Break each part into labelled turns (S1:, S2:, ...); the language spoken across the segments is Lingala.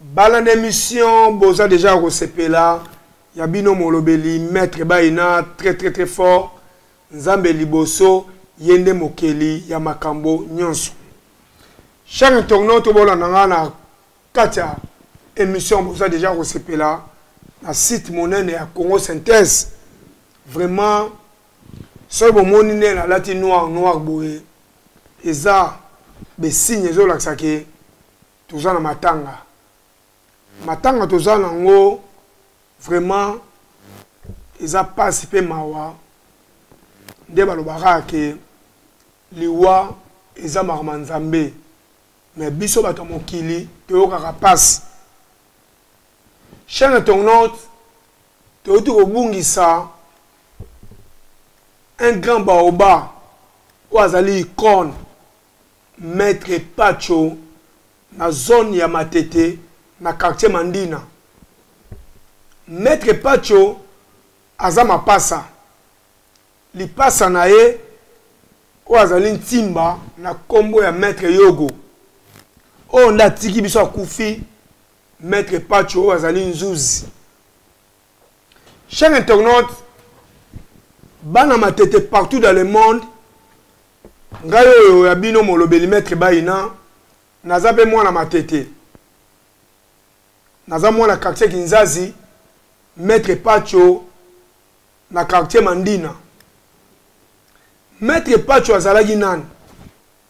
S1: bala na émission boza deja ya kosepela ya bino molobeli maître bayina très très très fort nzambe liboso ye nde mokeli ya makambo nyonso chaque internaute bolanda ngai na kati ya émission boza deja kosepela na site monene ya congo synthèse vraiment soki bomoni nde nalati noir noir boye eza be signe ezo lakisa ke toza na matanga matanga toza na ngo vraiment eza pasi pe mawa nde balobaka ke liwa eza makambo ya nzambe me biso bato ya mokili toyokaka mpasi chaine tongnot Touti kobungisa un grand baoba oyo azali icone maitre Patsho na zone ya Matete na quartier Mandina. Maitre Patsho aza mapasa, lipasa na ye oyo azali ntimba na nkombo ya maitre Yogo oyo nde atiki biso akufi Maître Pacho azali nzuzi. Chers internautes, bana matete partout dans le monde, ngai oyo ya bino molobeli maître Baina, naza pe mwana matete. Naza mwana quartier Kinzazi, maître Pacho na quartier Mandina. Maître Pacho azalaki nani?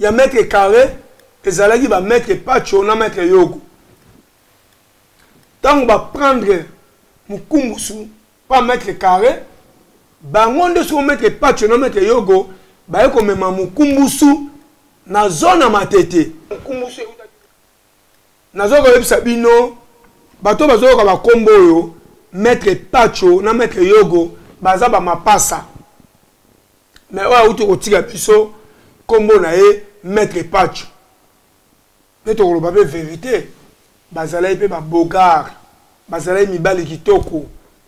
S1: ya mètre carré ezalaki ba mètre pacho na mètre yogo ntango baprendre mokumbusu pa mètre carré bango nde soko mètre pacho na mètre yogo baye komema mokumbusu na zone ya matete mokumbusu nazoki koyebisa bino bato bazoyoka bakombo oyo mètre pacho na mètre yogo baza bamapasa mais oyo awuti kotika biso nkombo na ye maître pacho nde tokoloba mpe verité bazalaki mpe babogare bazalaki mibali kitoko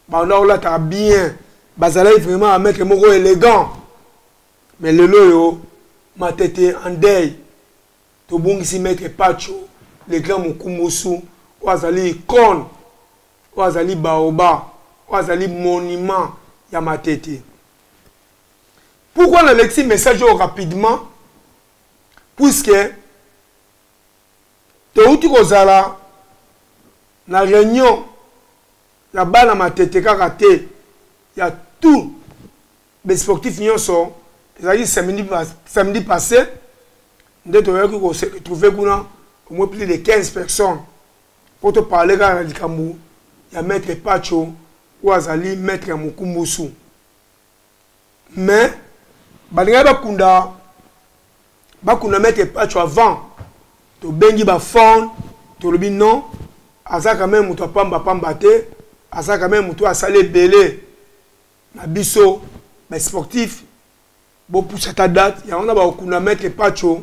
S1: banda kolataka bien bazalaki vraiment bamaitre moko élégant mais lelo oyo matete en deuil tobungisi maître pacho le grand mokumbusu oyo azali icone oyo azali baoba oyo azali monument ya matete pourquoi na lexi message oyo rapidement puisque touti kozala na réunion ya bana matete kaka te ya tout basportif nyonso ezalaki samedi, samedi passé nde toyaki koretrouve kuna omoi plus de 15 personnes Mpo to parler kaka na likambo ya Maitre Patsho oyo azali Maitre ya Mokumbusu. Mais balingaki bakunda bakunda Maitre Patsho avant tobengi ba phone tolobi non aza quand même moto apamba pamba te aza quand même moto asali ebele na biso ba sportif bopusa ta date yango na bakokunda Maitre Patsho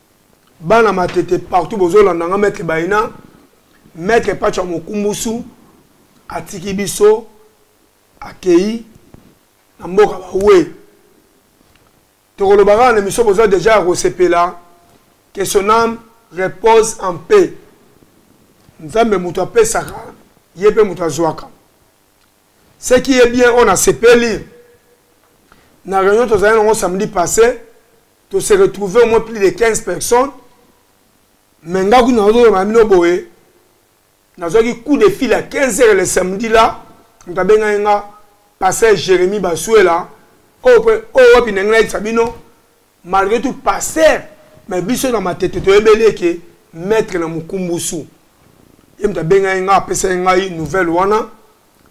S1: bana matete partout bozolanda nga maître baina maître pacha mokumbusu atiki biso akei na mboka bawe tokoloba kaka na miso boza deja ya kosepela que son âme repose en paix nzambe moto apesaka ye mpe moto azwaka ce qui est bien oyo nasepeli na réunion tozali nango samedi passé to se retrouver au moins plus de 15 personnes mais nga kuna nazoloba bino boye nazwaki coup de fil à 15 heures le samedi là moto abengaki nga pasteur jérémie basuela oyo oh, wapi oh, ndenge nayebisa bino malgré tout pasteur mais biso na matete toyebeli eke maître na mokumbusu ye moto abengaki nga apesaki ngai nouvelle wana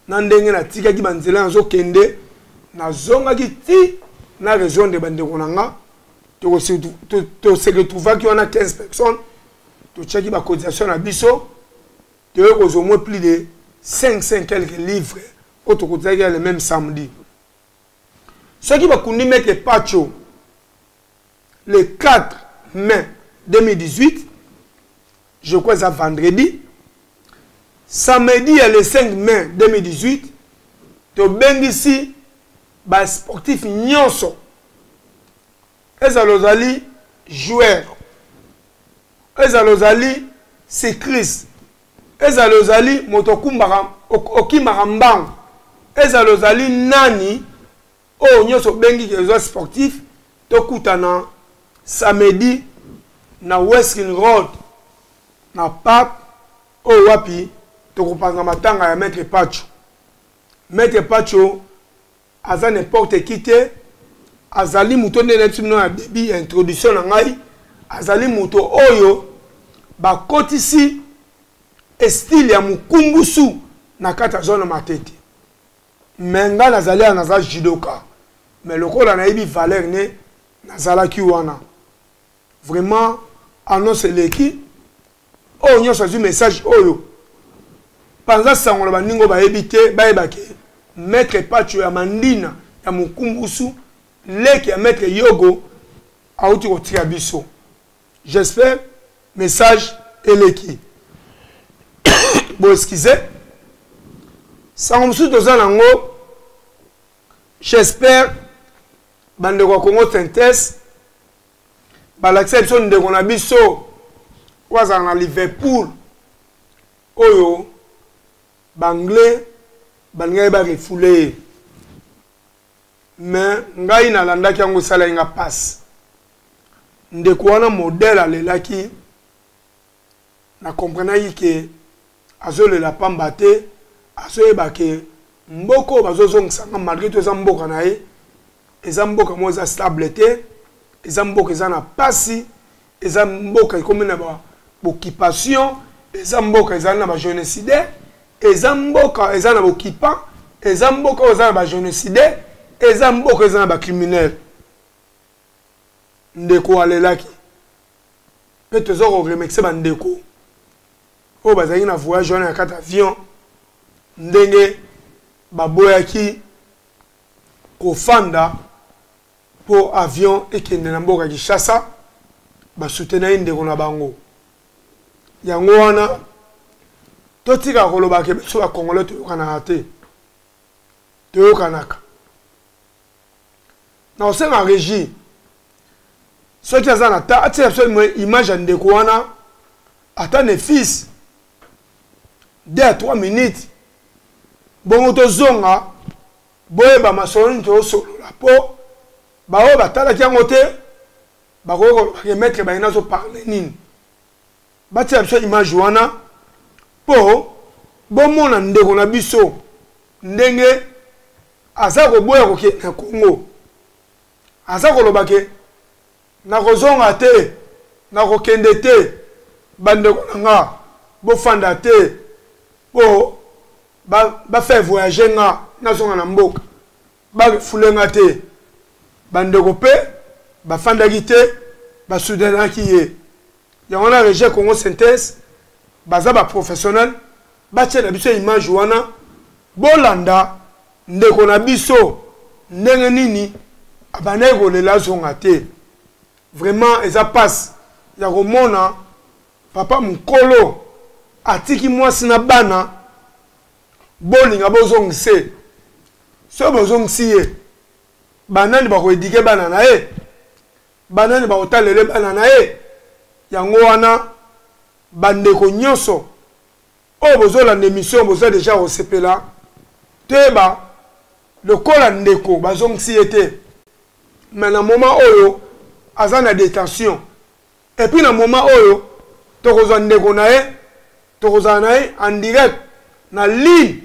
S1: na ndenge natikaki banzela nazokende nazongaki ti na rejoindre bandeko na nga tose retrouvaki wana 15 personnes totiaki bacotisation na biso toyei kozwa moins plus de 55 quelques livres oyo tokotisaki ya le même samedi soki bakundi mete pacho le 4 mai 2018 je crois eza vendredi samedi ya le 5 mai 2018 tobengisi basportif nyonso ezala ozali joueur ezala ozali cycliste ezala ozali moto okumbaka okimaka mbangu ezala ozali nani oyo nyonso obengi eza sportif tokutana samedi na westin road na park oyo wapi tokopanza matanga ya maître pacho maître pacho aza n'importe qui te azali moto nde nayebisi bino na début ya introduction na ngai azali moto oyo bakotisi estile ya mokumbusu na kati ya zone matete me ngai nazali awa naza judoka me lokola nayebi valeur ne nazalaki wana vraiment annonce eleki oyo nyonso azwi message oyo panza sango na baningo bayebi te bayeba ke maître pacho ya mandina ya mokumbusu leki ya maître yogo awuti kotika biso J'espère message eleki. Bon excusez. Sango mosusu toza nango. J'espère bandeko ya Congo Tintes balakisa biso ndeko na biso oyo azala na Liverpool oyo banglais balingaki bamifule ye mais ngai nalandaki yango esalaki nga pasi ndeko wana modele alelaki na comprenaki ke azolela pamba te azoyeba ke mboka oyo bazozongisa nga malgré to eza mboka na ye eza mboka moko eza stable te eza mboka eza na pasi eza mboka ekomi na ba occupation eza mboka ezali na ba génocidaire eza mboka eza na bokipa eza mboka oyo eza na ba génocidaire eza mboka eza na ba criminel ndeko alelaki mpe toza koremercie bandeko oyo bazalaki na voyage wana ya kati avion ndenge baboyaki kofanda po avion ekende na mboka Kinshasa ba soutenir ndeko na bango yango wana totika koloba ke biso ba congolais toyokanaka te toyokanaka na osenga régie soki aza na ta atia biso image ya ndeko wana ata ne fils deux à trois minutes bongo tozonga Boyeba masolo nini tozosolola mpo baoyo batalaki yango te bakoki koloba ke maître baye nazo parle nini batia biso image wana mpo bomona ndeko na biso ndenge aza koboya kokende na congo aza koloba ke nakozonga te nakokende te bandeko na nga bofanda te mpo bafaire ba voyage nga nazonga na mboka bafule nga te bandeko mpe bafandaki te basudanaki ye yango na regie congo synthèse baza ba professionnel batie na biso image wana bolanda ndeko na biso ndenge nini abandaki kolela azonga te vraiment eza mpasi ya komona papa mokolo atiki mwasi na bana bolinga bozongisa ye soki bozongisi ye banani bakoedike bana na ye Banani bakotalele bana na ye? Yango wana ba ndeko nyoso oyo bozo landa emission boza deja kosepela toyeba lokola ndeko bazongisi ye te mais na moment oyo aza na detention et puis na moment oyo tokozwa ndeko na ye tokozala na ye en direct na ligne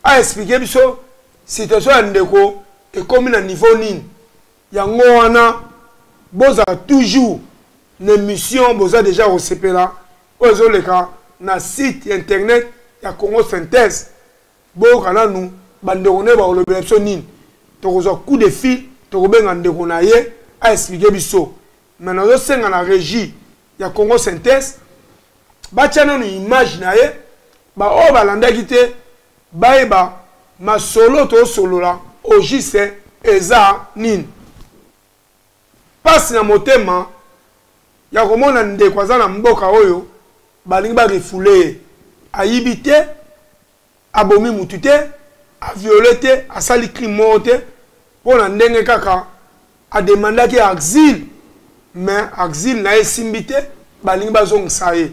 S1: a expliquer biso situation ya ndeko ekomi na niveau nini Yango wana bozala toujours na emission boza deja kosepela oyo ezoleka na site internet ya Congo Synthèse boyoka nanu bandeko naye bakolobela biso nini tokozwa coup de fil tokobenga ndeko na ye aexplike biso me nazosenga na régie ya Congo Synthèse batya nanu image na ye baoyo balandaki te bayeba masolo tosolola au juste eza nini pasi na motema ya komona ndeko aza na mboka oyo balingi barefule ye ayibi te abomi mutu te aviole te asali crime moko te mpo na ndenge kaka ademandaki axile mais axile na ye esimbi te balingi bazongisa ye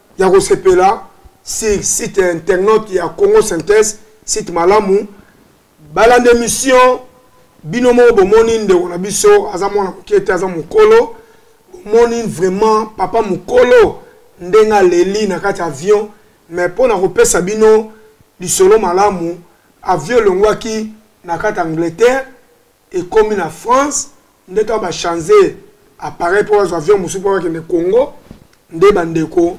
S1: ya kosepela sur site internet ya congo synthèse site malamu balanda émission bino moko bomoni ndeko na biso aza mwana moke te aza mokolo bomoni vraiment papa mokolo ndenge aleli na kati avion mais mpo na kopesa bino lisolo malamu avion elongwaki na kati angleterre ekomi na France nde to ba change appareil mpo bazwa avion mosusu mpo bakende Congo nde bandeko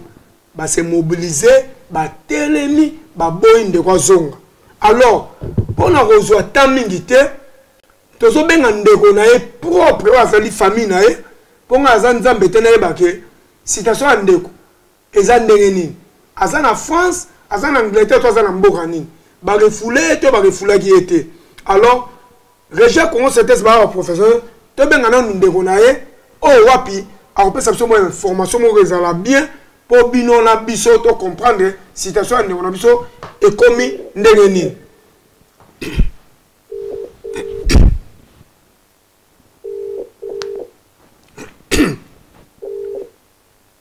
S1: base mobilise batelemi baboyi ndeko azonga alors mpo na kozwa temps mingi te tozobenga ndeko na ye propre oyo azali famille na ye mpo ngai aza nzambe te nayebake citation ya ndeko Eza ndenge nini? Aza na France, aza na Angleterre to aza na mboka nini? Ba refoule ye to ba refoulaki ye te? Alors Regia Congo Synthèse ba ba professeur to benga nanu ndeko na ye oyo oh, wapi akopesa biso mwa information moko ezala bien mpo bino na biso to comprendre situation ya ndeko na biso ekomi ndenge nini.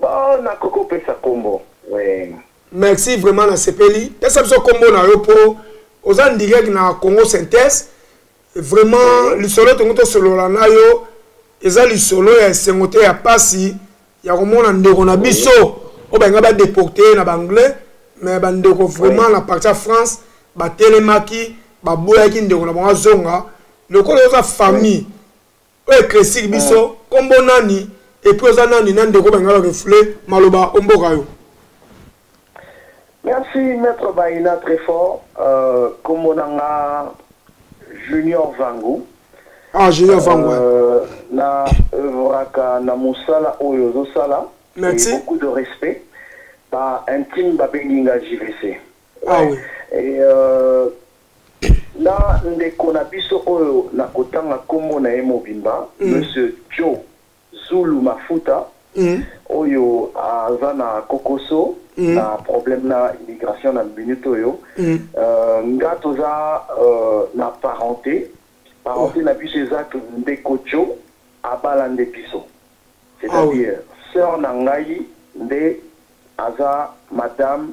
S2: Bon, na koko pesa kombo. Ouais. Merci vraiment
S1: na sepeli. Pesa biso kombo na yo po oza direct na Congo Synthèse. Vraiment lisolo tongo to solola na yo eza lisolo ya esengo te ya pasi ya komona ndeko na biso oyo balinga badeporte na baanglais mais bandeko vraiment na parti ya france batelemaki baboyaki ndeko na bango azonga lokola oza famille oyo eclaircir biso eh. kombo nani epuis oza nani na ndeko bengala refle maloba omboka yo
S2: merci maître baina très fort euh, kombo na nga junior vangu ah junior
S1: vangu euh, na
S2: œuvraka na mosala oyo ozosala merci beaucoup de
S1: respect
S2: ba intime babengi nga jvc ah,
S1: oui.
S2: et euh, Na ndeko na biso oyo nakotanga nkombo na ye mobimba, Monsieur Joe Zulu Mafuta, oyo aza na kokoso na problème na immigration na minute oyo. Nga toza na parente, parente na biso eza que ndeko Joe abala nde biso. C'est-à-dire soeur na ngai nde aza madame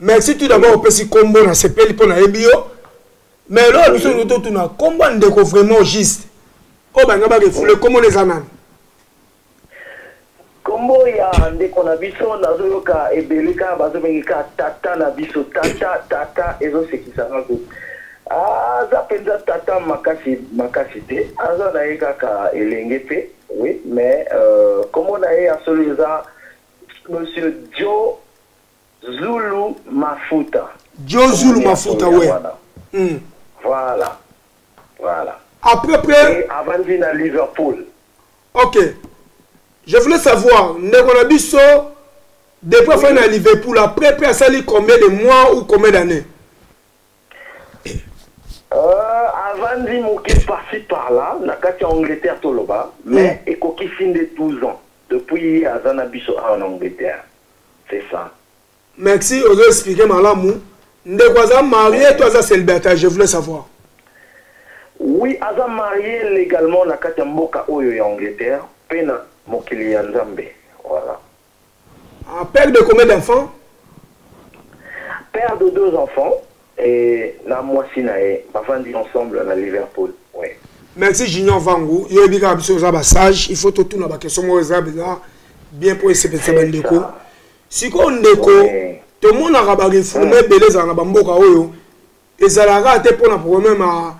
S1: merci tout d'abord opesi nkombo na sepeli mpo nayebi yo mais eloko biso olingi totuna nkombo ya ndeko vraiment juste oyo balinga barefule nkombo na eza nani
S2: nkombo ya ndeko na biso nazoyoka ebele kaka bazobengi kaka tata na biso tata tata ezosekisa nga kutu aza mpenza tata makasi makasi te aza na ye kaka elenge mpe oui mais euh, nkombo na ye ya solo eza monsieur joe Zulu mafuta. Djo Zulu
S1: mafuta we. Mm. Voilà. Voilà. Après après. Et avant à
S2: Liverpool.
S1: Ok. Je voulais
S2: savoir,
S1: ndeko na biso depuis afai na Liverpool après après asali combien de mois ou combien d'années?
S2: Euh, avandi moke parci par là na kati ya angleterre toloba mais mm. ekokisi nde 12 ans depuis aza na biso awa na angleterre c'est ça. Merci
S1: ozo expliquer malamu. Ndeko aza marie to aza célibataire je voulais savoir.
S2: Oui aza marie légalement na kati ya mboka oyo ya Angleterre pe na mokili ya Nzambe. Voilà. Ah,
S1: père de combien d'enfants Père
S2: de deux enfants. Et na mwasi na ye bavandi ensemble na Liverpool. Oui. Merci Junior
S1: Vangu, yo yebi kaka biso oza ba sage, il faut totuna ba question moko eza beza bien mpo esepelisa ba ndeko. Sikoyo ndeko oui. tomonaka ba reforme hmm. ebele ezala na ba mboka oyo ezalaka te mpo na problème ya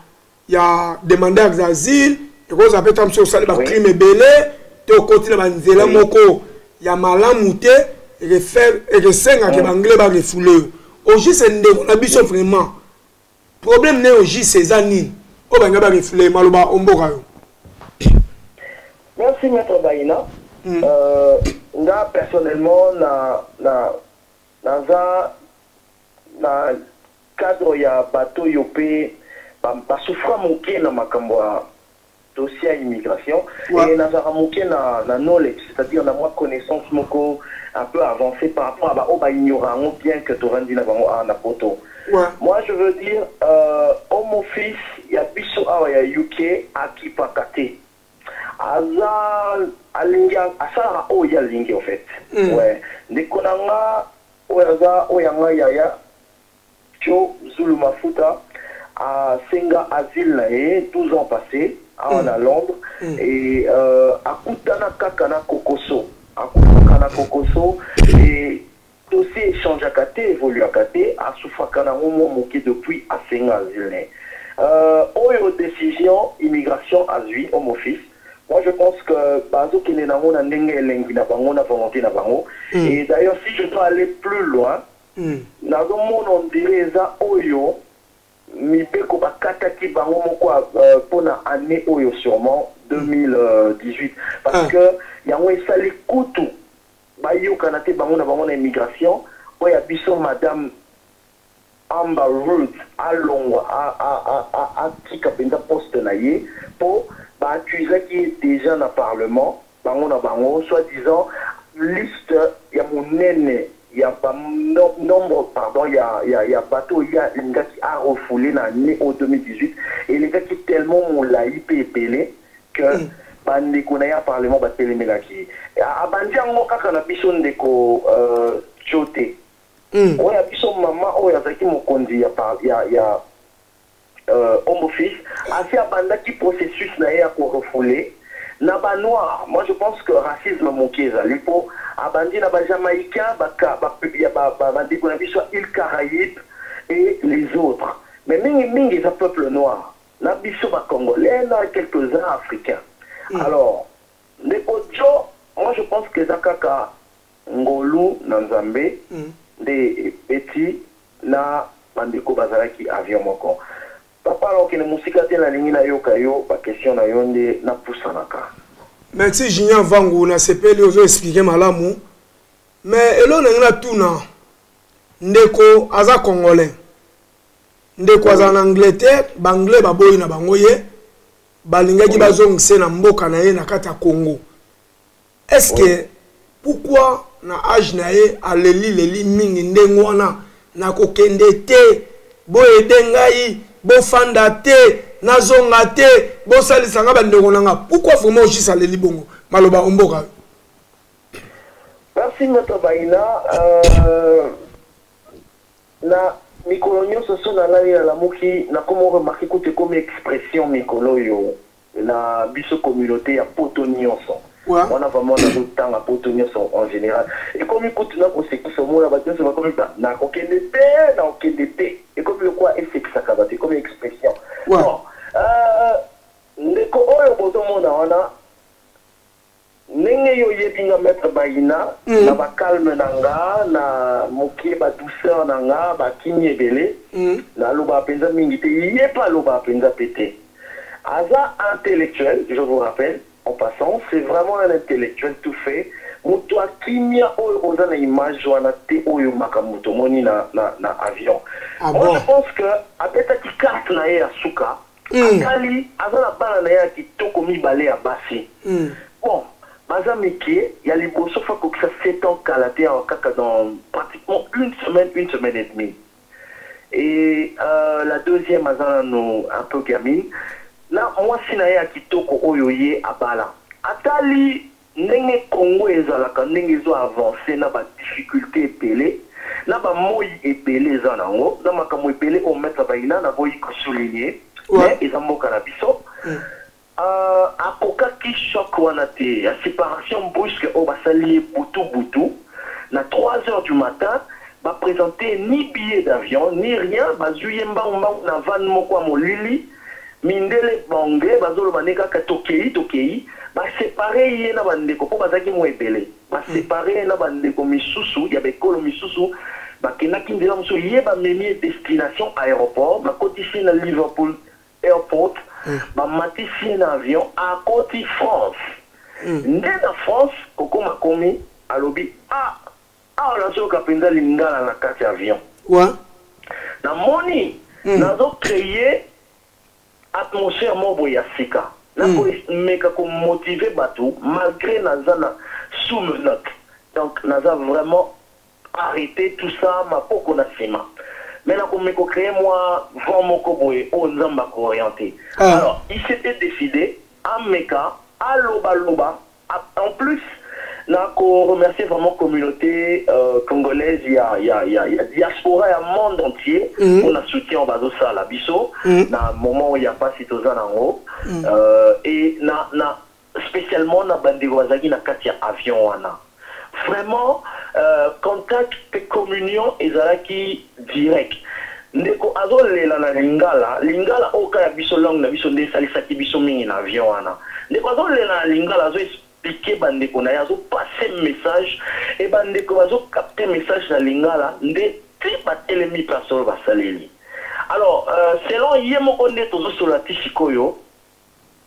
S1: ya demandeurs d'asile ekozala mpe ntango mosusu osali bacrime ebele to okoti na banzela moko ya malamu te ekesengaka baanglais barefoule yo ojise ndeko na biso vraiment problème na yo ojise eza nini oyo balinga barefoule maloba omboka yo merci
S2: maître baina hmm. euh, nga personnellement na na naza Na cadre ya bato oyo mpe ba souffra muke na makambo ya dossier ya immigration et nazalaka muke na knowledge c'est à dire na mwa connaissance moko un peu avancee par rapport ya ba oyo ba ignora yango bien que tovandi na bango awa na poto. Moi je veux dire home office ya biso awa ya UK akipaka te aza alingi asalaka oyo ye alingi en fait ndeko na nga Oyo aza oyo ya ngai yaya. Djo zulu mafuta a senga asile na ye 12 ans passe awa na londres et a kutana kaka na kokoso a kutaka na kokoso et dossier e changeaka te evoluaka te a souffraka na ngo mua muke depuis a senga asile na ye euh oyo decision immigration azui omofis Moi je pense que bazo kende nango na ndenge elengi na bango na volonte na bango mm. et d'ailleurs si je peux aller plus loin mm. nazo mona on dirait eza oyo mibeko bakataki bango moko euh, mpo na année oyo sûrement 2018 parce ah. que yango esali kutu bayokana te bango na bango na immigration oyo ya biso madame Amber Ruth alongwa a a a a atika penza poste na ye po ba accusaki ye dejà na parlement bango na bango soit disant liste ya munene ya ba nombre pardon ya ya ya bato oyo ye alingaki a refouler na annee oyo 2018 elekaki tellement mulayi pe ebele que ba ndeko na ye ya parlement ba telemelaki ye abandi yango kaka na biso ndeko Joe te. Hum. Oya biso maman oyo azalaki mokonzi ya par, ya ya euh, Ombo Fils asi abandaki processus na ye ya ko refouler na ba noirs. Moi je pense que racisme moke ezali po abandi na ba jamaïcains ba ka ba ya ba ba ba ndeko na biso ya Iles Caraïbes et les autres mais mingi mingi eza peuple noir na biso ba congolais na quelques uns africains. Alors ndeko Djo moi je pense que eza kaka Ngolu na Nzambe nde ebeti na bandeko bazalaki avion moko. Papa na okende mosika te nalingi nayoka yo ba question na yo nde na pusanaka. Merci
S1: Junior Vangu na sepeli ozo explique malamu mais elo na ngina tuna ndeko aza congolais ndeko azala na Angleterre ba anglais baboyi na bango ye balingaki bazongise na mboka na ye na kati ya Congo est ce que pourquoi na age na ye aleli leli mingi ndenge wana nakokende te boyede ngai bofanda te nazonga te bosalisa ngai bandeko na ngai pourkui vraiment ojis aleli bongo maloba omboka yo
S2: merci moto baina euh, na mikolo nyonso so nalali nalamuki nakomi remarke kutu ekomi expression mikolo oyo na biso communaute ya poto nionso wana vraiment nazotanga poto nionso en general ekomi kutu na kosekisa omona bato nionso bakomi ba nakokende te nakokende te ekomi lokola esekisaka bato ekomi expression bon euh, ndeko oyo bozomona wana Ndenge yo oyebi nga maitre Bayina na ba calme na nga na mukie ba douceur na nga ba kimia ebele na lobaka penza mingi te ye pe alobaka penza pe te aza intellectuel je vous rappelle en passant c'est vraiment un intellectuel tout fait mutu ya kimia oyo oza na image wana te oyo makambu tomoni na na avion moi je pense que abetaki carte na ye ya suka mm. atali aza na bana na ye ya kitoko mibale ya basi mm. bon baza mike ya liboso fa kokisa 7 ans kala te awa kaka dans pratiquement une semaine une semaine et demie et euh, la deuxième aza nano un peu gamine na mwasi na ye ya kitoko oyo ye abala atali Ndenge Congo ezalaka ndenge ezo avancer na ba difficultes ebele, na ba moyi ebele eza nango, na makambo ebele oyo Maitre Baina naboyi ko souligner mais eza mboka na biso, ahh akokaki choc wana te ya separation brusque oyo basali ye butu butu na trois heures du matin, ba presenter ye ni billet d'avion ni rien, bazui ye mbangu mbangu na van moko ya molili, mindele ba anglais bazoloba nde kaka tokeyi tokeyi ba separe ye na ba ndeko po bazalaki mua ebele ba separe ye na ba ndeko misusu ya ba ekolo misusu bakendaki nzela mosusu ye bamemi ye destination aeroport bakotisi ye na Liverpool airport bamatisi ye na avion akoti France nde na France kokoma akomi alobi ah Awa nazo yoka penza lingala na kati ya avion. Quoi? Na moni mm. nazo cree atmosphère moko boye ya sika. Na ko mm. meka ko motiver bato malgré naza na sous menottes. Donc naza vraiment arrete tout ça maboko na sima mais na komeka kocree mwa vent moko boye oyo oh, nzambe akooriente ah. alors il s'était décidé ameka alobaloba En plus na ko remercier vraiment communaute congolaise ya ya ya diaspora ya monde entier pour na soutien bazo sala biso na moment oyo ya pasi toza na ngo et na na specialement na ba ndeko bazalaki na kati ya avion wana vraiment contact pe communion ezalaki Direct. Ndeko azo lela na lingala, lingala oyo kaka biso langue na biso nde esalisaki biso mingi na avion wana. Ndeko azo lela na lingala azo expliquer ba ndeko na ye azo passer message et ba ndeko bazo capter message na lingala nde tii ba telemi place oyo ba saleli. Alors selon ye moko nde tozo solola ti sikoyo.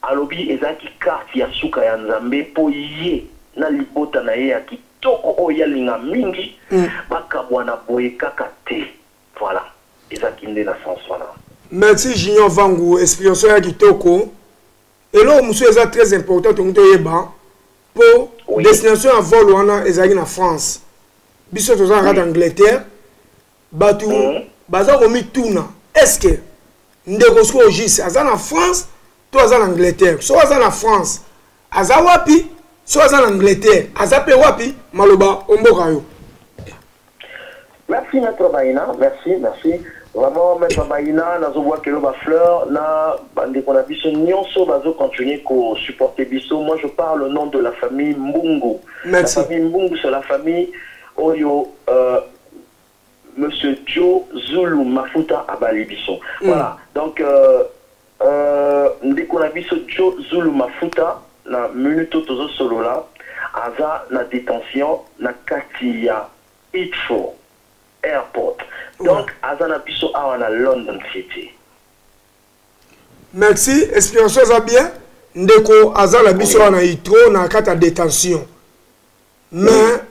S2: Alobi ezalaki carte ya suka ya Nzambe mpo ye na libota na ye ya kitoko oyo ye alinga mingi bakabwana boye kaka te. Voilà, ezalaki nde na sens wana. Merci Junior
S1: Vangu, explication ya kitoko. Eloko mosusu eza très important tolingi toyeba mpo oui. destination ya vol wana ezalaki na France. Biso tozalaka oui. kaka Angleterre. bato mm. baza komituna estce ndeko sikoyo jis aza na france to aza na angleterre soki aza na france aza wapi soki aza na angleterre aza mpe wapi maloba omboka yo merci
S2: maître baina merci merci vraiment maître baina nazobwakelo bafleur na bandeko na biso nyonso bazocontinue kosupporte biso moi je parle au nom de la famille mbungu Merci. la famille mbungu c'est la famille oyo euh, Monsieur Djo Zulu Mafuta abali biso. Mm. Voilà. Donc euh, euh, ndeko na biso Djo Zulu Mafuta na minute tozo solola aza na detention na kati ya Heathrow Airport. Donc ouais. aza na biso awa na London City.
S1: Merci, explication aza bien. Ndeko aza na biso awa na Heathrow na kati ya detention. mais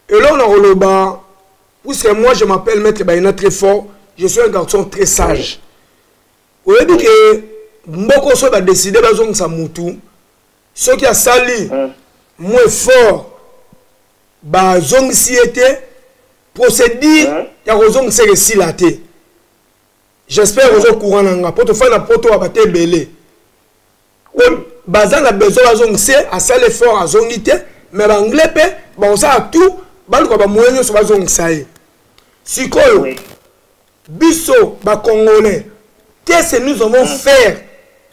S1: eloko na koloba puisque moi je m'appelle maître bayina très fort je suis un garçon très sage oyebi ke mboko soki badeside bazongisa mutu soki asali hmm. mo effort bazongisi ye te procédure hmm. ya kozongisa eke esila te j'espère oza courant na nga mpo tofai na poto waba te ebele baza na besoin bazongise asali effort azongi te mais baanglais mpe bakosala tout baluka bamoye nyonso bazongisa ye sikoyo biso bacongolais qu'est-ce que nous avons mm. faire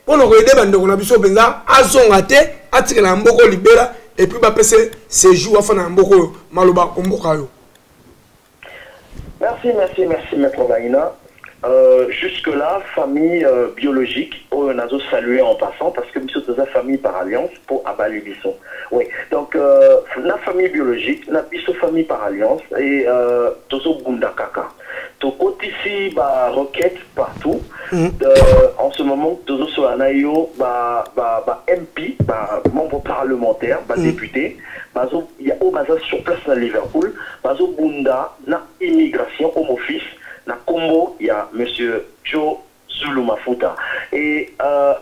S1: mpo na koyede bandeko na biso mpenza azonga te atikala na mboko libela epuis bapese sejour afanda na mboko oyo maloba omboka yo
S2: Merci merci merci maitre Maina euh, jusque là famille euh, biologique oyo nazo saluer en passant parce que biso toza famille par alliance po abali biso oui donc euh, na famille biologique na biso famille par alliance et euh, tozo bunda kaka tokotisi ba roquette partout mm. euh, en ce moment tozo sola na yo ba ba ba MP ba membre parlementaire ba mm. député bazo ya oyo baza sur place na Liverpool bazo bunda na immigration home office na kombo ya monsieur Joe Zulu Mafuta et euh,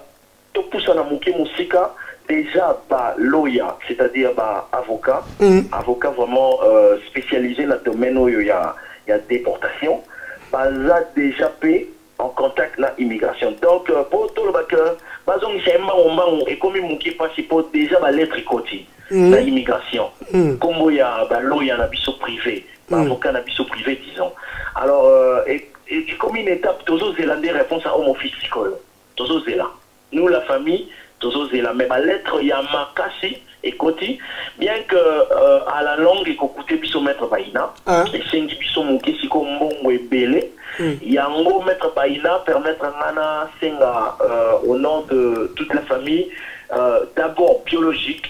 S2: topusana moke mosika déjà ba lawyer c'est-à-dire ba avocat mm. avocat vraiment euh, spécialisé na domaine oyo ya ya déportation baza déjà pe en contact na immigration donc po toloba que bazongisa ye mbangu mbangu ekomi mukie pasi po dejà ba lettre ekoti mm. na immigration mm. kombo ya ba lawyer na biso privé ba mm. avocat na biso privé disons alors euh, ekomi une étape tozozela nde réponse ya home office sikoyo tozozela Nous la famille tozo zela mais ba lettres ya makasi ekoti bien que à la longue eko coute biso maitre Baina esengi biso muke siko mbongo ebele yango maitre Baina permettre nga na senga au nom de toute la famille d'abord biologique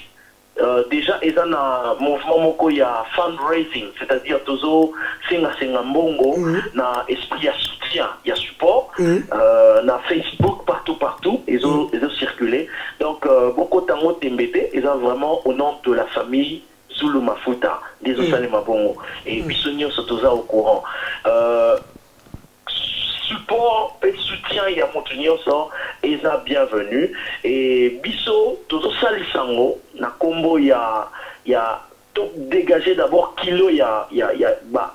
S2: Dejà eza na mouvement moko ya fund raising c'est à dire tozo senga senga mbongo na esprit ya soutien ya support na Facebook partout partout ezo ezo circuler donc bokota yango tembe te eza vraiment au nom de la famille Zulu Mafuta nde ezo salema bongo et biso nionso toza au courant. support pe soutien ya mutu nioso eza bienvenu et biso tozo salisa ngo na kombo ya ya to degager d'abord kilo ya ya ya ba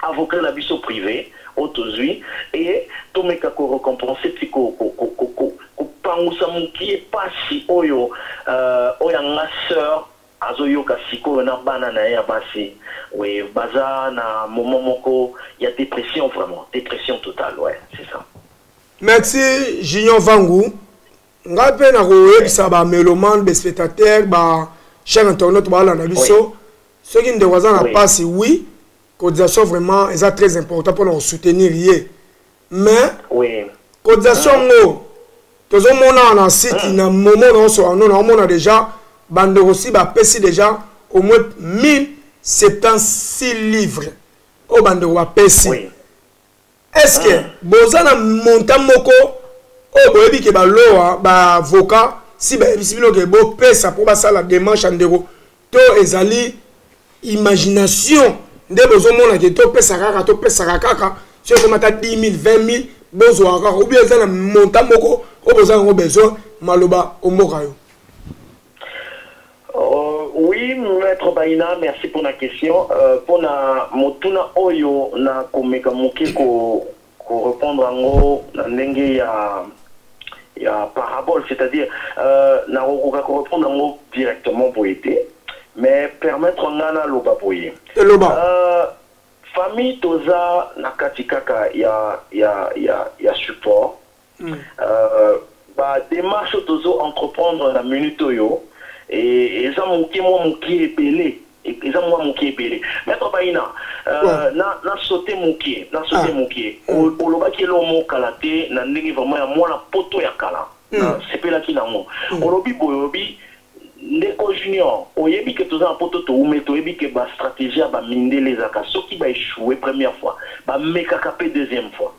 S2: avocat na biso prive oyo tozui et to meka ko recompense ti ko ko ko ko pangusa mukie pasi oyo euh oyo anga soeur Azo yoka sikoyo na bana naye ya basi oui baza na moment moko ya depression vraiment depression total ouais c'est ça. Merci
S1: Junior Vangu ngai mpe nakoyebisa ba melomane ba spectateur ba chaîne internet baalanda biso soki ndeko aza na mpasi oui cotisation vraiment eza très important mpona kosoutenir ye mais oui. cotisation mm. ngo tozomona wana site mm. na momo naoso ano naomona deja bandeko si bapesi deja au moins 1076 livres oyo bandeko bapesi oui. est ce que mm. boza na montant moko oyo boyebi ke baloa baavocat si bayebisi bino ke bopesa mpo basala demarche ya ndeko to ezali imagination nde bozomona ke topesa kaka topesaka kaka soki ekomata 10 000 20 000 bozwaka kaka obi eza na monta moko oyo boza yango besoin maloba omboka yo
S2: Uh, oui, maître Baina, merci pour la question. Euh, pour la motuna oyo na komeka moke ko Ko repondre yango na ndenge ya ya parabole c'est à dire euh, na kokoka ko repondre yango directement boye te mais permettre nga na loba boye eloba euh, famille toza na kati kaka ya ya ya ya support Euh, ba demarche oyo tozo entreprendre na minute oyo eh, eza moke mwa moke ebele eza mwa moke ebele maître baina euh, na, na sote moke na sote ah. moke hmm. olobaki elo mo kala te na ndenge vraiment ya mwana poto ya kala hmm. na sepelaki nango hmm. olobi boye olobi ndeko junior oyebi ke toza na poto toume toyebi ke bastratégie ya bamindele ezalaka soki baechoue première fois bamekaka mpe deuxième fois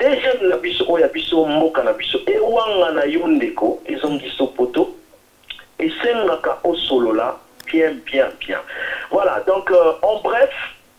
S2: Deuxième na biso oyo ya biso mboka na biso ewangana yo ndeko ezongiso poto esengaka osolola bien bien bien voilà donc en bref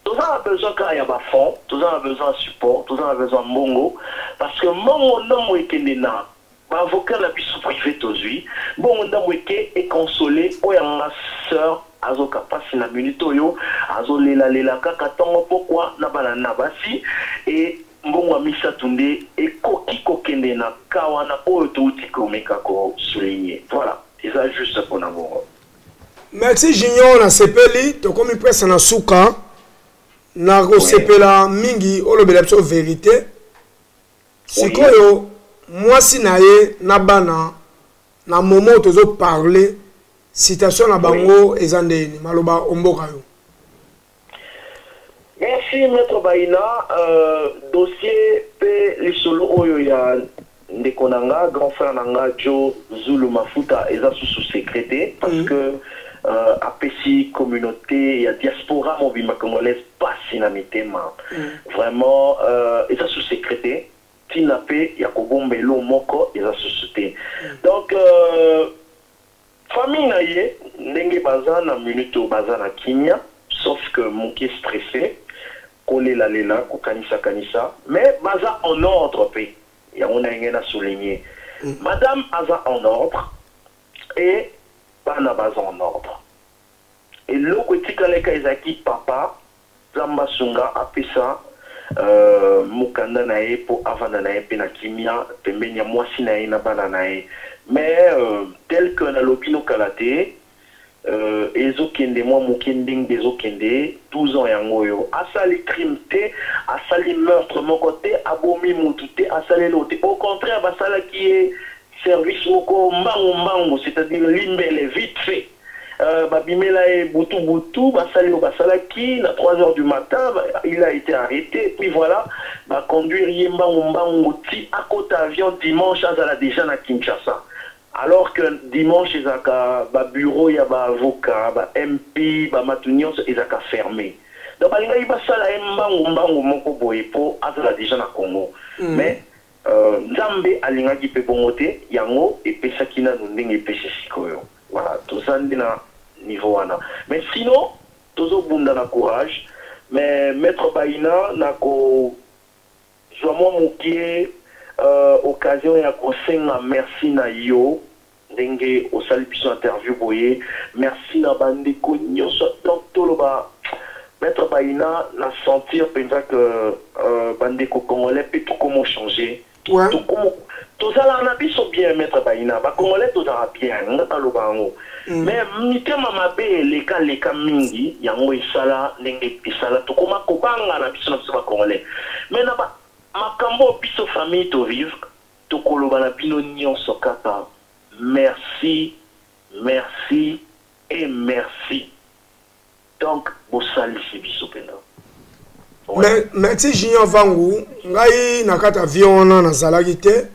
S2: toza na besoin kaka ya ba fonds toza na besoin ya support toza na besoin ya mbongo parce que mbongo nongo ekende na Ba avocats na biso prive tozui bongo ndambu eke e consoler oyo ya nga soeur azoka pasi na minute oyo azo lela lela kaka tongo pokua na bana na basi et mbongo ya misatu nde ekoki ko kende na cas wana oyo touti ko meka ko souligner voila eza juste pona bongo. Merci
S1: junior na sepeli tokomi presque na suka na ko sepela mingi olobela biso verite. Sikoyo mwasi na ye na bana na moment tozo parle situation na bango eza ndeni maloba omboka yo.
S2: Merci Maitre Bayina euh, dossier pe lisolo oyo ya ndeko na nga grand frère na nga Djo Zulu Mafuta eza susu secret te parce mm. que euh, apesi communauté ya diaspora mobimba congolaise pasi na mitema vraiment euh eza sous secret te tina pe ya kobomba elo moko eza susu te donc euh famille na ye ndenge baza na minute oyo baza na kimia sauf que muke stresse kolela lela kokanisa kanisa mais baza en ordre pe yango naye ngai na souligne madame aza en ordre et bana baza en ordre. eloko etikala ka ezalaki papa nzambe asunga apesa euh mukanda na ye po avanda na ye pe na kimia pembeni ya muasi na ye na bana na ye mais euh tel que na lobi no kala te euh ezo kende mua muke ndengde ezo kende 12 ans yango oyo asali crime te asali meurtre moko te abomi mutu te asali eloko te au contraire ba salaki ye service moko mbangu mbangu c'est à dire limbele vite fait Euh, babimela ye butu butu basali oyo basalaki na 3 heures du matin il a été arrêté puis voilà baconduire ye mbangu mbangu ti akota avion dimanche azala déjà na kinshasa alors que dimanche ezalaka babureau ya baavocat ba mp bamatu nyonso ezalaka ferme donc balingaki basala ye mbangu mbangu moko boye mpo azala déjà na congo mm. mais Nzambe alingaki pe bongo te, yango epesaki nanu ndenge epesi sikoyo. Voilà, toza nde na niveau wana. Mais sinon, tozo bunda na courage. Mais Maitre Bayina, nako zua mwa mukie occasion ya ko senga merci na yo. Ndenge osali biso interview boye. Merci na ba ndeko nioso donc toloba maitre Bayina na sentir penza que ba ndeko congolais pe tokomo change tokomo tozalaka na biso bien maitre Bayina ba congolais tozalaka bien nga naloba yango mais mitema mabe eleka leka mingi yango esala ndenge esala tokoma kobangana biso na biso ba congolais mais na ba makambo oyo biso famille to vivre Tokoloba na bino nionso kaka merci merci et merci donc bosalisi biso penza. Me,
S1: merci junior vangu ngai na kati avion wana nazalaki te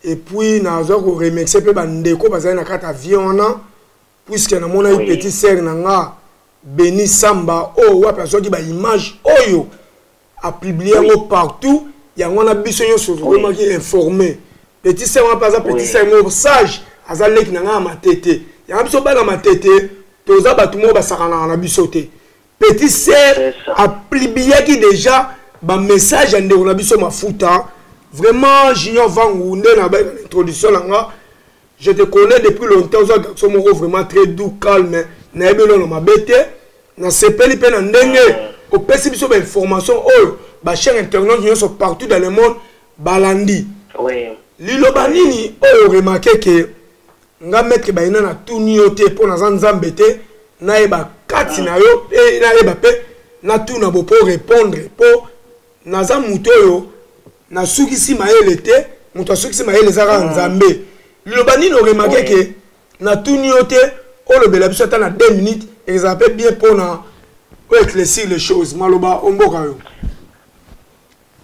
S1: epuis nazwa koremercie mpe bandeko bazali na kati avion wana puisque namonaki oui. petit sere na nga beni samba oyo oh, wapi azwaki baimage oyo oh, apiblie yango oui. partout yango wana biso nyonso tokomaki oui. informe petit sere wana mpe aza petit sere moko sage aza leki na nga ya matete yango biso bana matete toza bato moko basakanaka na biso te petit sere aplibiaki déjà bamessage ya ndeko na biso mafuta vraiment junior vangu nde na baintroduction na nga je te connais depuis longtemps oza garçon moko vraiment très doux calme nayebi elona mabe te nasepeli mpe na ndenge ah. opesi biso bainformation oyo bachaine internaute nyonso partout dans le monde balandi
S2: liloba nini
S1: oyo remarke ke nga maître bayina na tuni yo te mpo naza nzambe te nayeba kati ah. na yo nayeba mpe natuna bo mpo répondre mpo naza moto oyo nasukisi mayele te moto asukisi mayele eza kaka ah. nzambe liloba nini oremake ke natuni yo te olobela biso ata na 2 minutes ezala mpe bien mpo na oeclaircir les choses maloba omboka yo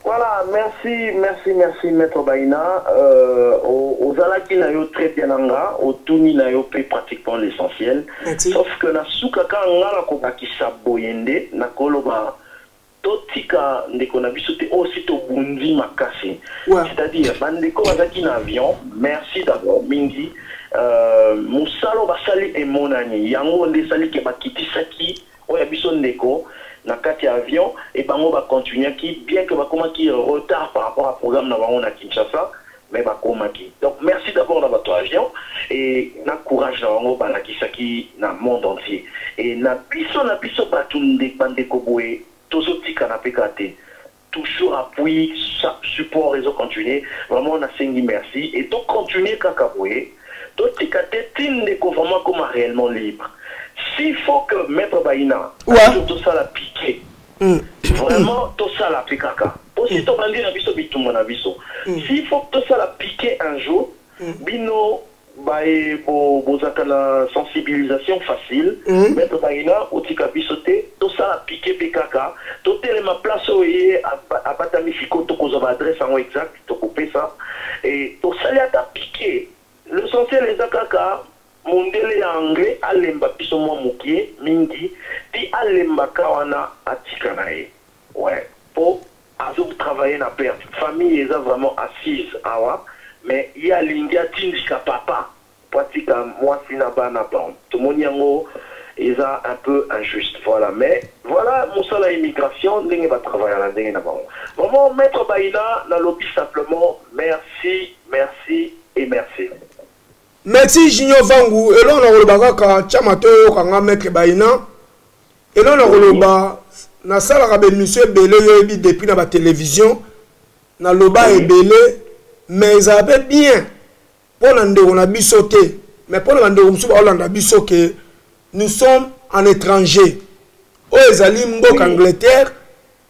S1: Voilà,
S2: merci, merci, merci, Maître Baïna. Euh, aux Alaki Nayo, très bien, Nanga, au Tuni Nayo, pratiquement l'essentiel. Sauf que la Soukaka, Ngala, Kobaki, Saboyende, Nakoloba, To tika ndeko na biso te oyo si to bundi makasi c'est à dire ba ndeko ba zaki na avion merci d'abord mingi euh musala oyo ba sali emonani yango nde esali ke ba kitisaki oyo ya biso ndeko na kati ya avion et bango ba continuaki bien que ba komaki retard par rapport ya programme na bango na Kinshasa mais bakomaki donc merci d'abord na batu ya avion et na courage na bango balakisaki na monde entier et na biso na biso batu nde ba ndeko boye tozo tikana pe kaka te toujours appui support ezo continuer vraiment na sengi merci et to continuer kaka boye to tika te ti ndeko vraiment akoma reellement libre s'il faut que maitre Baina un jour tosala pique Mm. vraiment tosala pe kaka po si mm. tobandi na biso bitumba na biso mm. si faut tosala piquer un jour bino baye bozalaka na sensibilisation facile maître bangina otika biso te tosala piquer pe kaka totelema place oyo ye abatami sikoyo tokozwa baadresse yango exact tokopesa tosali ata piquer l'essentiel eza kaka Mondele ya Anglais alemba biso mwa mukie mingi ti alemba ka wana atika na ye ouais po azo travailler na perte famille eza vraiment assise awa mais ye alingi atindika papa po atika mwasi na bana bon tomoni yango eza un peu injuste voilà mais voilà musala ya immigration ndenge ba travaillaka na ndenge na bango vraiment maitre Bayina nalobi simplement merci merci et merci. Merci
S1: Junior Vangu, eloko na koloba kaka tya mato oyoka nga maître Baina. Eloko na koloba nasalaka ba émission ebele yo oyebi depuis na ba télévision naloba ebele mais ezala mpe bien mpo na ndeko na biso te mais mpo na bandeko mosusu baolanda biso ke nous sommes en étranger oyo ezali mboka angleterre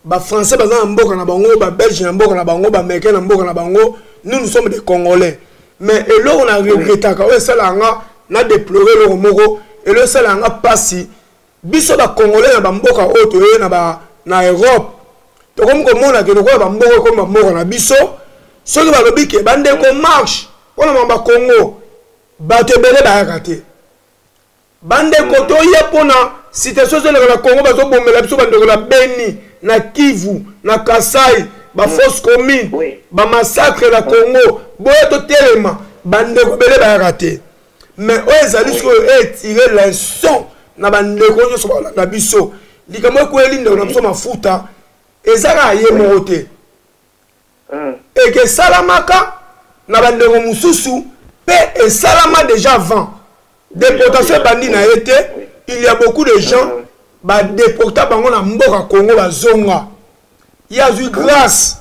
S1: Ba français baza na mboka na bango, ba belge na mboka na bango, ba américain na mboka na bango. Nous nous sommes des congolais. Mais eloko na regrettaka oyo esala nga na déplorer eloko moko, eloko esala nga pasi. Biso ba congolais na ba mboka oyo toye na ba na Europe. Tokomi komona ke lokola ba mboka ekomi ba mboka na biso. Soki balobi ke bandeko marche mpona mamba Congo bato ebele bayaka te. Bandeko mm. toya mpo na situation ezoleka na Congo, bazobomela biso bandeko na Beni, na Kivu, na Kasai, ba mm. fausse commune, oui. ba massacre na Congo, boya totelema, bandeko bele bayaka te. Mais oyo ezali sikoyo etire leçon na bandeko nyonso balanda biso. Likambo ekweli ndeko na biso mafuta eza kaka ye moko te. mm. et que esalamaka na bandeko mosusu mpe esalama déjà avant déportation ebandi na ye te il y a beaucoup de gens mm. badeporta bango na mboka congo bazonga ye azwi grâce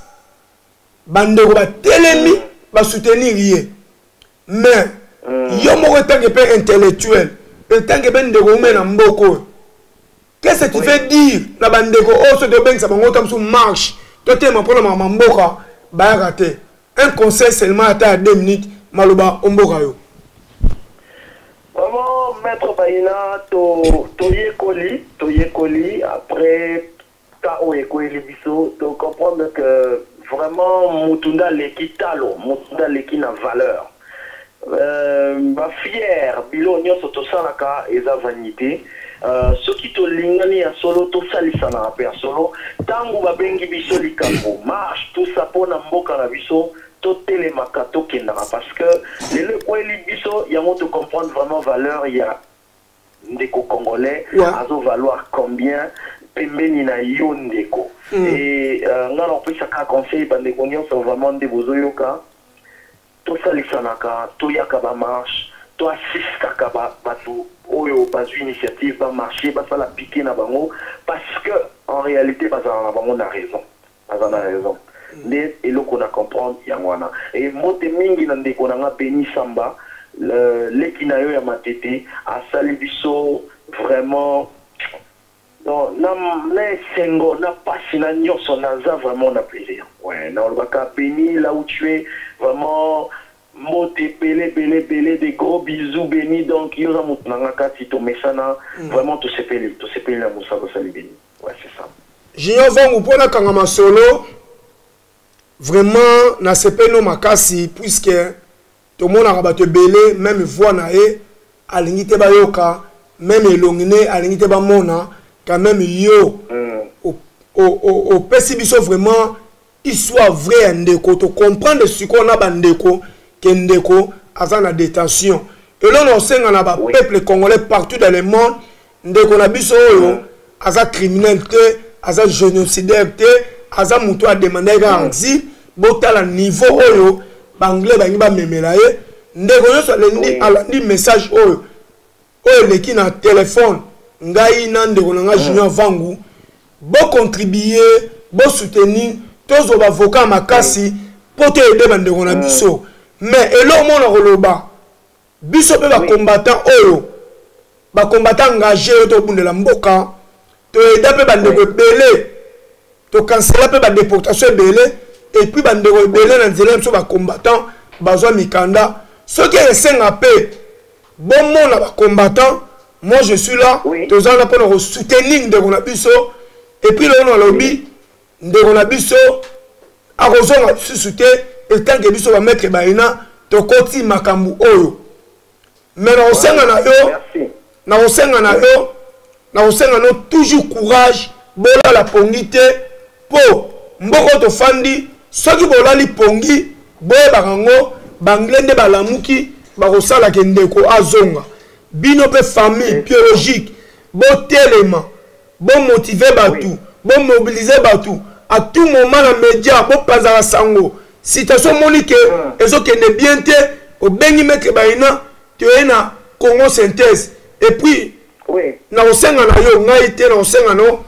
S1: bandeko batelemi mm. basoutenir ye mais mm. yo moko etange mpe intellectuel etange mpe ndeko ume na mboka oyo qu'est-ce que tu veux dire na bandeko oyo oh, soki tobengisa bango ta mosusu marche totelema mpo na mama mboka bayaka te un conseil seulement ata ya deux minutes maloba omboka yo vraiment
S2: maître bayina toyekoli to toyekoli après Cas oyo ekweyeli biso to comprendre que vraiment mutu nde aleki talo, mutu nde aleki na valeur. Euh, ba fière biloko nionso tosalaka eza vanite. Euh, soki tolingani ya solo tosalisanaka pe ya solo. Tangu babengi biso likambu marche tout ça pona mboka na biso totelemaka tokendaka parce que lelo ekweyeli biso yango to comprendre vraiment valeur ya ndeko congolais ouais. azo valoir combien pembeni na yo ndeko mm. e uh, ngai nakopesaka conseil bandeko nyonso vraiment nde bozoyoka tosalisanaka toyaka bamarche to assistaka bato oyo bazwi initiative bamarche basala pike na bango parce que en réalité bazala na bango na raison Aza na raison nde eloko na comprendre yango wana et mbote mingi na ndeko na nga Beni Samba leki na yo ya Matete asali biso vraiment donc na esengo na pasi na nionso naza vraiment na plaisir ouais nao loba ka Beni là où tu es vraiment mbote ebele ebele ebele des gros bisous Beni donc yo oza mutu na nga kati tomesana vraiment tosepeli tosepeli na musala osali Beni. junior vangu mpo
S1: nakanga masolo vraiment nasepeli no makasi puiske tomonaka bato ebele meme voi na ye alingi te bayoka meme elongi ne alingi te bamona quand meme yo mm. opesi biso vraiment histoire vrai ya ndeko to comprendre sikoyo na bandeko ke ndeko aza na détention eloko na osenga na bapeuple congolais partout dans le monde ndeko na biso oyo mm. aza criminel te aza génocidaire te aza motu ademandaki kaka mm. exil botala niveau oyo baanglais bangi bamemela ye ndeko nyonso alandi message oyo oyo eleki na telefone ngai na ndeko na ngai junior vangu bocontribue bosoutenir tozwa bavoka ya makasi mpo toyede bandeko na biso mais eloko moko na koloba biso mpe bacombattant oyo bacombattant engage oyo tokobundela mboka To aida pe ba ndeko ebele. To cancela pe ba deportation ebele et puis ba ndeko ebele na nzela biso ba combattants bazwa mikanda. Soki esenga pe bomona ba combattants moi je suis là oui. toza wana mpona kosoutenir ndeko na biso epuis lelo nalobi ndeko na biso akozonga lisusu te etanke biso bamaitre baina tokoti makambo oyo mais nakosenga na yo nakosenga na yo nakosenga na yo toujours courage bolala pongi te mpo mboko tofandi soki bolali pongi boyebaka yango banglais nde balamuki bakosalaka ndeko azonga bino mpe famille biologique botelema Bo motiver batu, bo mobiliser batu a tout moment na media bo panzaka sango. Situation omoni que ezo kende bien te, obengi maitre Baina toye na Congo synthèse et puis nakosenga na yo ngai te nakosenga na yo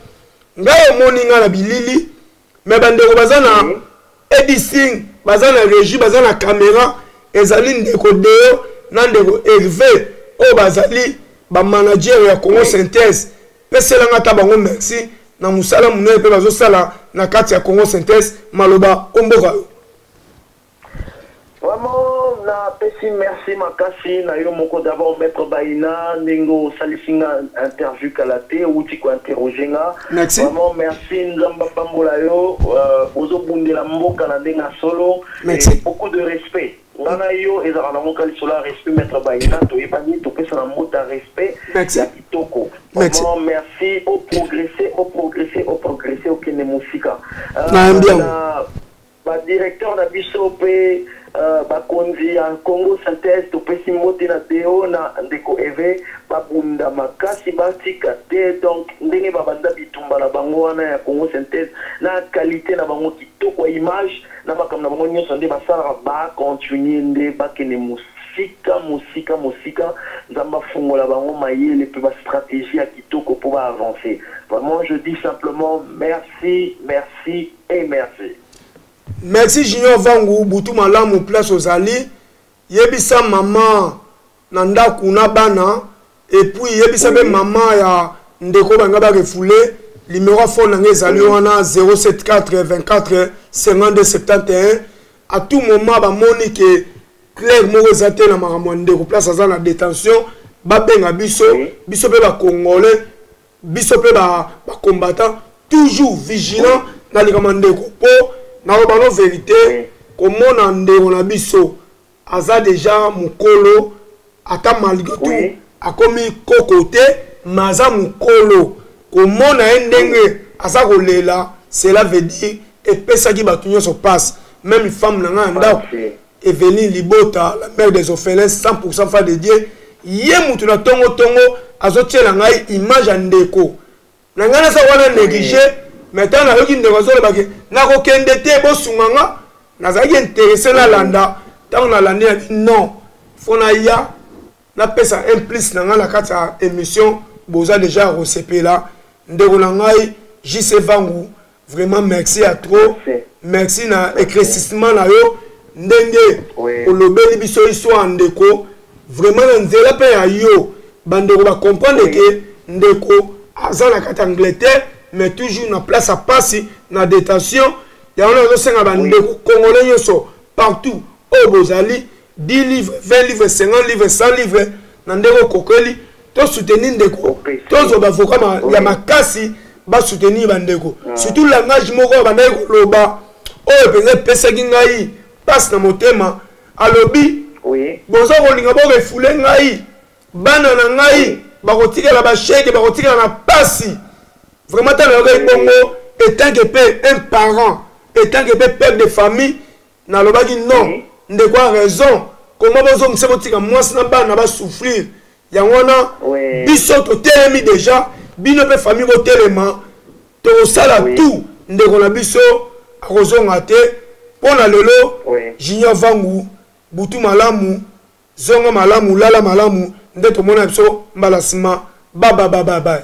S1: ngai omoni ngai na bilili mais bandeko baza na mm -hmm. edising baza na régie baza na caméra ezali ndeko deo na ndeko herve oyo bazali bamanager ya congo synthèse peselanga ata bango merci na mosala monene mpe bazosala na kati ya congo synthèse maloba omboka yo
S2: Vraiment na pesi merci makasi na yo moko d'abord maitre Baina ndenge osalisi nga interview kala te outi ko interroger nga merci. vraiment merci nzambe apambola yo euh, ozo bundela mboka na ndenge ya solo merci. et beaucoup de respect nga na yo ezalaka na mboka lisolo ya respect maître baina toyebani topesana mbota respect ya kitoko vraiment merci oprogresse oprogresse oprogresse okende mosika euh, Ba directeur na biso pe ba konzi ya Congo synthese topesi mbote na Deo na ndeko Eve ba bunda makasi ba tika te donc ndenge ba banda bitumba na bango wana ya Congo synthese na qualite na bango kitoko ya image na makambo na bango nionso nde ba salaka ba continuer nde ba kende mosika mosika mosika Nzambe afungola bango mayele pe ba strategie ya kitoko po ba avancer vraiment je dis simplement merci merci. et merci.
S1: Merci Junior Vangu, butu malamu place ozali. Yebisa maman na ndaku na bana et puis yebisa be maman ya ndeko banga ba refoule numéro phone nanga ezali wana 074 24 52 71 à tout moment bamoni ke claire moko eza te na makambo ya ndeko place aza na détention babenga biso biso mpe bakongole biso pe ba ba combattants toujours vigilant na likambo ya ndeko po na loba no verite oui. komona ndeko na biso aza deja mukolo ata malgré tout oui. akomi koko te mais aza mukolo komona ye ndenge oui. aza kolela cela veut dire epesaki bato nyonso passe même femme na ngai ya ndako Eveline Libota, la mère des orphelins, 100% fan de Dieu. Ye mutu na tongo tongo azo tiela ngai image ya ndeko. Na ngai naza wana négligé, mais tant na yoki ndeko azo lobaki na ko kende te bo sunga nga. Nazalaki intéressé na landa, tant na landi na non. Faut na ya na pesa un plus na ngai na kati ya émission boza déjà resepela ndeko na ngai JC Vangu vraiment merci ya trop merci na éclaircissement na yo ndenge olobeli biso histoire ndeko vraiment na nzela mpe ya yo bandeko bacomprendre ke ndeko aza na kati angleterre mais toujours na place ya mpasi na détention yango na azosenga bandeko congolais nyonso partout oyo bozali 10 livre 20 livre 50 livre 100 livre na ndenge okokeli tosoutenir ndeko tozwa bavoka ma, ya makasi basoutenir bandeko mm. surtout langage moko abandaki koloba oyo mpenza epesaki ngai mpasi na motema alobi oui. boza kolinga bokefule ngai bana na ngai bakotikala basheke bakotikala na mpasi vraiment ntango nayokaki bongo etanke mpe un parent etanke mpe pere de famille nalobaki non oui. ndeko a raison koma bozongisa botika mwasi na bana basouffrir yango wana oui. biso totelemi deja bino mpe famille botelema tokosala oui. tout ndeko na biso akozonga te mpo na lelo oui. junior vangu butu malamu zonga malamu lala malamu nde tomona biso mbala nsima bababababaye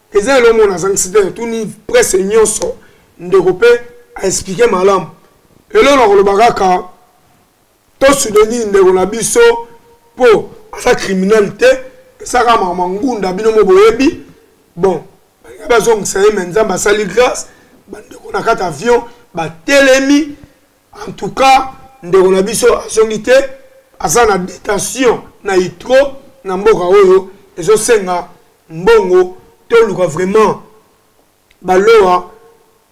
S1: eza eloko moko nazangisi te natuni presse nyonso ndeko mpe aexplike malamu eloko na koloba kaka tosudenini ndeko na biso mpo aza criminel te esaka mama ngunda bino mo boyebi bon balinga bazongisa ye me nzambe asali grâce bandeko na kati avion batelemi en tout cas ndeko na biso azongi te aza na detention na itro na mboka oyo ezosenga mbongo toluka vraiment baloa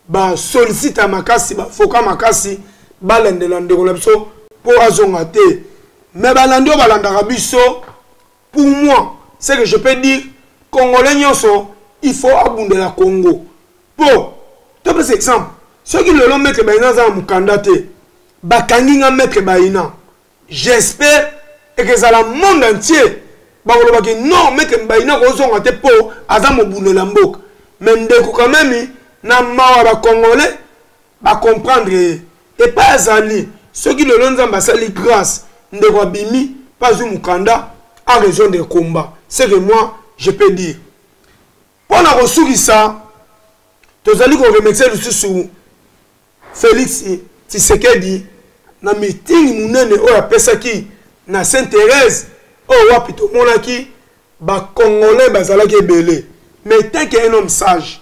S1: basolicita makasi bafoka makasi balandela ndeko na biso mpo azonga te me balandi oyo balandaka biso pour moi ce que je peux dire congolais nyonso il faut abundela congo po topesa exemple soki lelo maître baina aza na mokanda te bakangi nga maître baina j'espère ekezala monde entier bakolobaki non maître baina kozonga te po aza mobundela mboka me ndeko quand meme na mawa bacongolais bacomprendre ye epai azali soki lelo nzambe asali grâce ndeko abimi mpe azwi mokanda a rejoindre combat ce que moi je peux dire Mpo na kosukisa, tozali ko remercier lisusu Felix Tshisekedi na meeting monene oyo apesaki na Sainte Therèse oyo wapi tomonaki ba Congolais bazalaki ebele mais etant que un homme sage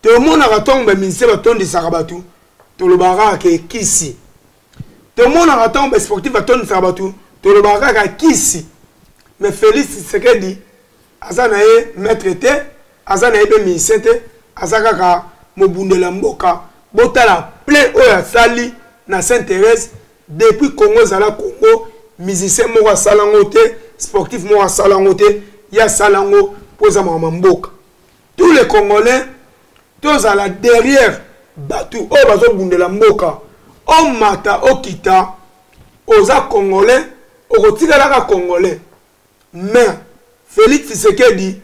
S1: tomonaka ntango bamusicien batondisaka bato tolobaka kaka ke kisi tomonaka ntango basportif batondisaka bato tolobaka kaka kisi mais Felix Tshisekedi aza na ye maître te aza na ye mpe musicien te aza kaka mobundela mboka botala plein oyo asali na saint thérèse depuis congo ezala congo musicien moko asala yango te sportif moko asala yango te ye asala yango mpo eza makambo ya mboka tous les congolais tozala derrière bato oyo bazobundela mboka omata okita oza congolais okotikalaka congolais mais felix tshisekedi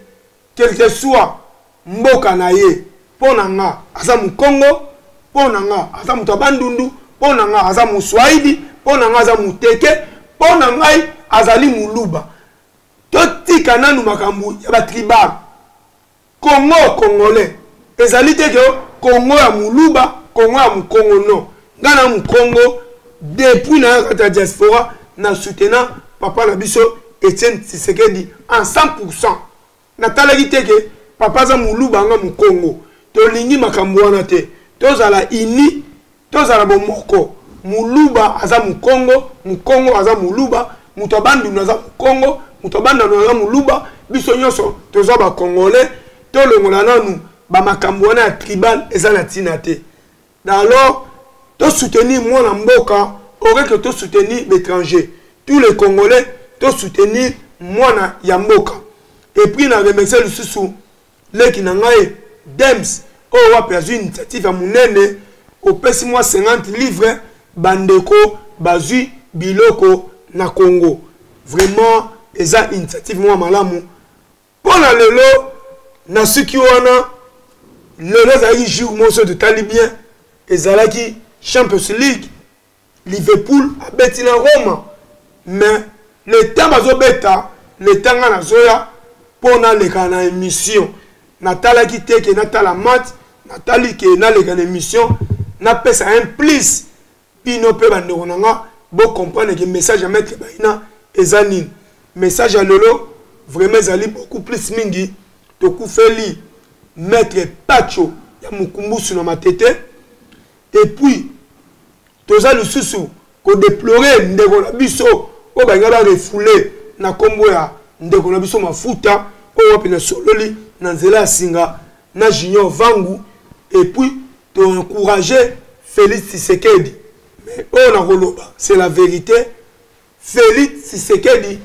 S1: quelque soit mboka na ye mpo na nga aza mokongo mpo na nga aza moto ya bandundu mpo na nga aza moswaidi mpo na nga aza moteke mpo na ngai azali moluba totika nanu makambo ya batribal Congo congolais ezali te ke Congo ya muluba, Congo ya mukongo non. Nga na mukongo depuis na kati ya diaspora na soutena papa na biso Etienne Tshisekedi en 100%. Natalaki te ke papa aza muluba nga mukongo. Tolingi makambo wana te. Tozala unis tozala bomoko muluba aza mukongo mukongo aza muluba moto ya bandundu aza mukongo moto ya bandundu aza muluba biso nyonso toza bacongolais tolongola nanu bamakambo wana ya tribal eza na ntina te alors tosoutenir mwana mboka aurait que tosoutenir l'étranger tous les congolais tosoutenir mwana ya mboka epuis na remercie lisusu leki na ngai dems oyo oh, wapi azwi initiative ya monene opesi mwa 50 livre bandeko bazwi biloko na congo vraiment eza initiative mwa malamu mpo na lelo nasuki wana lelo ezalaki jour moso totali bien ezalaki champions league Liverpool abeti na Roma mais le temps bazobeta le temps nga nazoya mpo naleka na émission natalaki te ke natala match natali ke naleka na émission napesa un plus bino mpe bandeko na nga bocomprendre ke message ya maître baina eza nini message ya lelo vraiment ezali beaucoup plus mingi tokufeli maître pacho ya mokumbusu na matete et puis toza lisusu kodeplore ndeko na biso oyo balinga barefoule na nkombo ya ndeko na biso mafuta oyo wapi nasololi na nzela ya singa na junior vangu epuis toencourage félix tisekedi mais oyo nakoloba c'est la vérité Felix Tshisekedi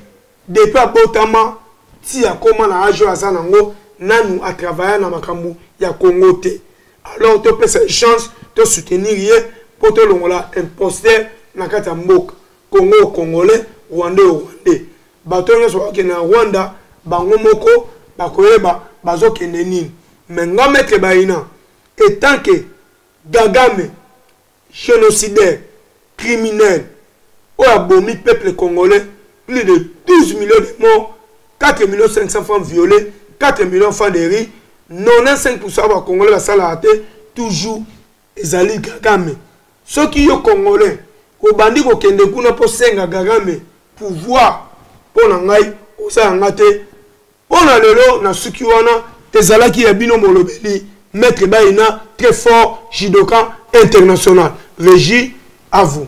S1: depuis abotama ti akoma na age oyo aza nango nanu a travailla na makambo ya Congo te alors topesa ye chance to soutenir ye po tolongola imposteur na kati ya mboka Congo au Congolais Rwandais au Rwandais bato oyo nyonso bakokende na Rwanda bango moko bakoyeba bazokende nini mais nga Maitre Bayina etant que Gagame genocidaire criminel oyo abomi peuple congolais plus de 12 millions de morts 4 millions 500 femmes violées 4 millions francs de riz 95 pourcent ya bacongolais basalaka te toujours ezali kagame soki yo congolais obandi kokende kuna mpo senga kagame pouvoir mpo na ngai oza yanga te Mpo na lelo na suki wana ezalaki ya bino molobeli maître Baina très fort judoka international Regi à vous.